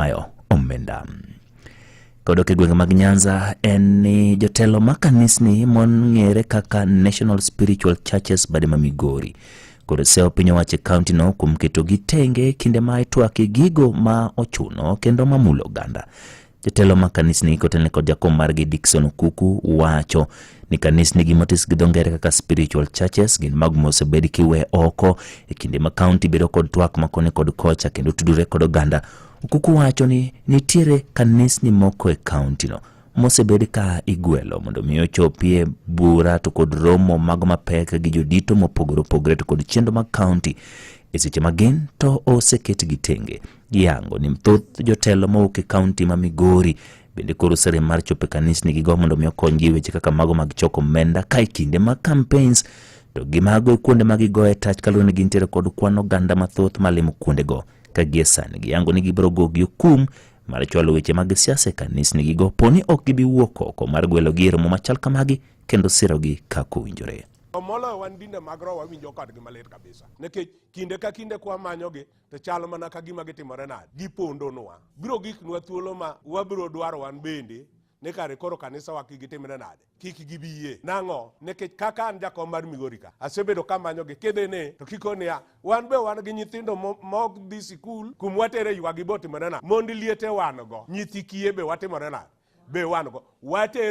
Ismail Omenda. Kodok e gwenge mag Nyanza en ni jotelo ma kanisni mong'ere kaka National Spiritual Churches Badema Migori kod sewo piny owacho e kauntino kuom keto gi tenge kinde ma itwake gigo ma ochuno kendo ma mulo oganda. Jotelo ma kanisni kotelne kod jakom margi Dickson Okuku wacho ni kanisnigi motis gi dho ngere kaka spiritual churches gin mago mosebed kiwe oko e kinde ma kaunti bedo kod twak makoni kod kocha kendo tudore kod oganda okuku wacho ni nitiere kanisni moko e kauntino mosebed ka igwelo mondo mi ochopie bura to kod romo mago mapek gi jodito mopogore opogore to kod chenro mag kaunti e seche ma gin to oseketgi tenge giyango ni thoth jotelo mowuok e kaunti ma migori Bende koro sere mar chopo e kanisni gi go mondo mi okonygi weche kaka mago mag choko omenda ka e kinde mag campaigns to gi mago e kuonde ma gigoye tach kaluwore ni gintiere kod kwan oganda mathoth malimo kuondego ka gie sani giyango ni gibiro gogi okum mar chwalo weche mag siasa e kanisni gi go poni ok gibi wuok oko mar gwelogi e romo machal kamagi kendo sirogi kaka owinjore. Moloyo wan dinde mag roho wawinjo kodgi malit kabisa nikech kinde ka kinde kwamanyogi to chal mana ka gima gitimore nade gipondonwa biro giknwa thuolo ma wabiro dwaro wan bende ni kare koro kanisawa kik gitimre nade kik gibi yie nang'o nikech kaka an jakom mar migori ka asebedo kamanyogi kidhini to kiko niya wan be wan gi nyithindo mo- mok dhi sikul kum watere ywagi botimore nade mond liete wan go nyithi kiye be watimore nade be wan go watero